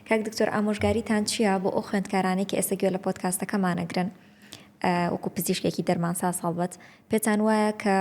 کاک دکتۆر ئامۆژگاریتان چیە بۆ ئەو خوێندکارانەی کە ئێستا گوێ لە پۆدکاستەکەمان ئەگرن وەکو پزیشکێکی دەرمانساز هەڵبەت پێتان وایە کە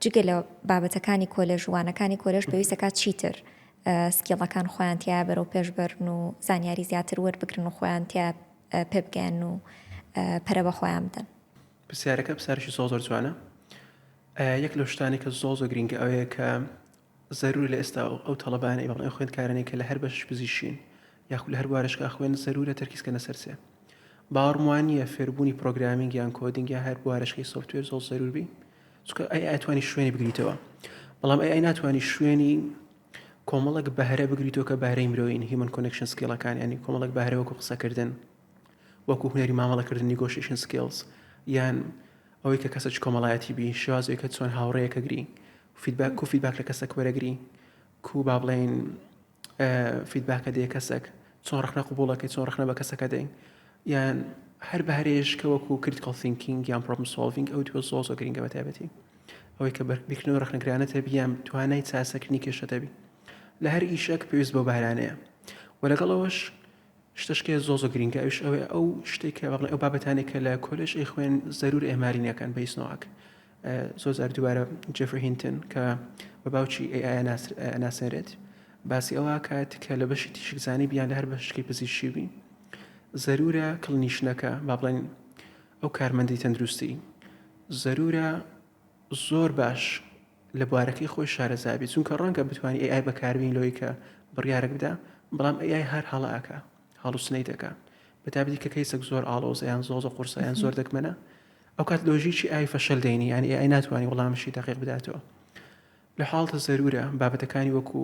جگە لە بابەتەکانی کۆلێژ وانەکانی کۆلێژ پێویستەکە چیتر سکیڵەکان خۆیان تیا بەرەو پێشبرن و زانیاری زیاتر وەربگرن و خۆیان تیا پێبگەن و پەرە بە خۆیان بدەن پرسیارەکە پرسیارێکی زۆر زۆر جوانە یەک لەو شتانێکە زۆر زۆر گرنگە ئەوەیە کە زەرورە لە ئێستا و ئەو تەڵەبانەی بەڵێن خوێندکارانەی کە لە هەر بەشش پزیشین یاخو لە هەر بوارەشکا خوێن زەرورە تەرکیز کەنە سەر سێ باوەڕم وا نییە فێربوونی پرۆگرامینگ یان کۆدینگ یا هەر بوارەشکەی سۆفتوێر زۆڵ زەرور بی چکە ئەی ئەتوانی شوێنی بگریتەوە بەڵام ئەی ئەی ناتوانی شوێنی کۆمەڵک بەهرە بگریتەوە کە بەهرەی مرۆین هیمن کۆنکشن سکیڵەکان ینی کۆمەڵک بەهرەوەکو قسەکردن وەکو هونەری مامەڵەکردن Negotiation Skills یان ئەوەی کە کەسە چ کۆمەڵایەتی بی شێوازەوەی کە چۆن هاوڕێیەکە گری فیدباک کو فیدباک لە کەسەک وەرەگری کو با بڵێین فیدباکە دێ کەسەک چۆن ڕخنە قوبوڵەکەی چۆن ڕخنە بە کەسەکە دەین یان هەر بە هەرێشکە وەکو کریتکڵ سینکینگ یان پرۆبم سۆڵڤینگ ئەو دووە زۆ زۆ گرنگە بە تایبەتی ئەوەی کە بەربیکردنەوە ڕخنەگرانە تەبی یان توانای چاسەکردنی کێشە دەبی لە هەر ئیشەک پێویست بۆ بارانەیە و لەگەڵەوەش شتشکێ زۆر زۆر گرینگە ئەویش ئەوەیە ئەو شتێک کە بەڵێ ئەو بابەتانێک کە لە کۆلێژ ئەیخوێن زەرور ئێماری نەکەن بە هیچ نۆعەک زۆر زار دووبارە جێفری هینتن کە بە باوکی ئەی ئایا ناسێنرێت باسی ئەوە کات کە لە بەشی تیشکزانی بیان لە هەر بەشکی پزیشکی بی زەرورە کڵنیشنەکە با بڵێن ئەو کارمەندی تەندروستی زەرورە زۆر باش لە بوارەکەی خۆی شارەزا بی چونکە ڕەنگە بتوانی ئەی ئای بەکاربینی لەوەی کە بڕیارەک بدا بەڵام ئەی ئای هەر هەڵە ئەکا هەڵوسنەیت ئەکا بە تایبەتی کە کەیسەک زۆر ئاڵۆزە یان زۆزە قورسە یان زۆر دەگمەنە ئەو کات لۆژیکی ئای فەشەل دەینی یان ئەی ئای ناتوانانی وڵامشی دەقیق بداتەوە لە حاڵتە زەرورە بابەتەکانی وەکو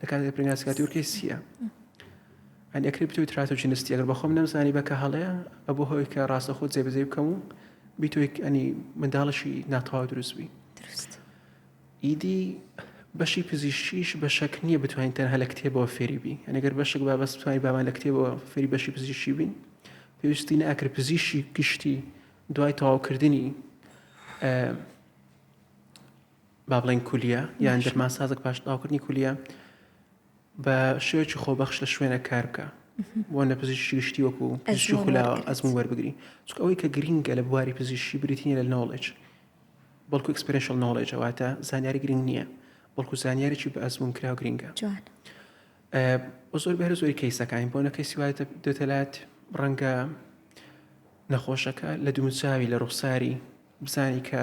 لە کاتێکدا پریناس کاتی ورکەی سییە ئەنی ئەکری بتوی تراتۆجی نستی ئەگەر بەخۆم نەمزانی بەکە هەڵەیە ئەبوو هەوەی کە ڕاستە خۆت جێبەجێ بکەم و بیتۆی ئەنی منداڵشی ناتەواو دروست بووی ئیدی بەشی پزیشکیش بە شەک نییە بتوانین تەنها لە کتێبەوە فێری بی ئەنەگەر بەشک با بەس بتوانین بامان لە کتێبەوە فێری بەشی پزیشکی بین پێویستی ناکرد پزیشی گشتی دوای تەواوکردنی با بڵێین کولیە یان دەرمان سازک پاش تاوکردنی کولیە بە شێوەی خۆبەخش لە شوێنە کار بکە بۆ نە پزیشتی گشتی وەکو پزیشتی خولاوە ئەزم وەربگری چک ئەوەی کە گرینگە لە بواری پزیشتی بریتنی لە نۆڵێج بەڵکو ئەکسپرشل نۆڵێجەواتە زانیاری گرنگ نییە بەڵکو زانیارێکی بە ئەزمون کراو گرینگە بۆ زۆر بەر زۆری کەیسەکانی بۆ نەکەی سیوایتە دەتەلات ڕەنگە نەخۆشەکە لە دووچوی لە ڕوخساری بزانی کە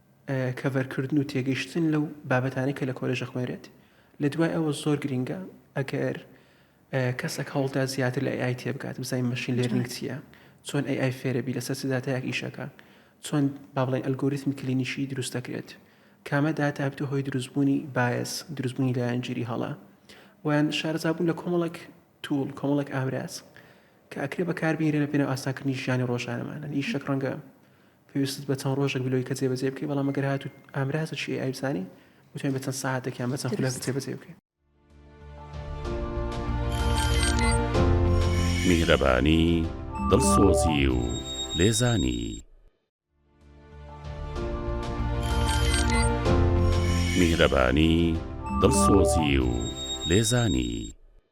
کەڤەرکردن و تێگەیشتن لەو بابەتانەی کە لە کۆلێژ ئەخوێنرێت لە دوای ئەوە زۆر گرینگە ئەگەر کەسەک هەوڵدا زیاتر لە ئای تێبگات بزای مەشین لێرنگ چییە چۆن ئەی ئای فێرەبی لەسەر سداتایەک ئیشەکە چۆن با بڵێن ئەلگۆریتمی کلینیشی دروست دەکرێت کامە داتا بتە هۆی دروستبوونی باەس دروستبوونی لایەنگیری هەڵە ویان شارزابوون لە کۆمەڵک توول کۆمەڵک ئامراز کە ئەکرێ بەکاربیرە لە پێنە ئاساکردنی ژیانی ڕۆژانەمانە ئیشەک ڕەنگە پێویستت بە چەند ڕۆژێک بلۆی کە جێبەجێ بکەی بەڵام گەر هاتووت ئامرازێکی ئێ ئای بزانی بتوانین بە چەند سەعاتێک یان بە چەند خولەک جێبەجێ بکەین. میهرەبانی، دڵسۆزی و لێزانی.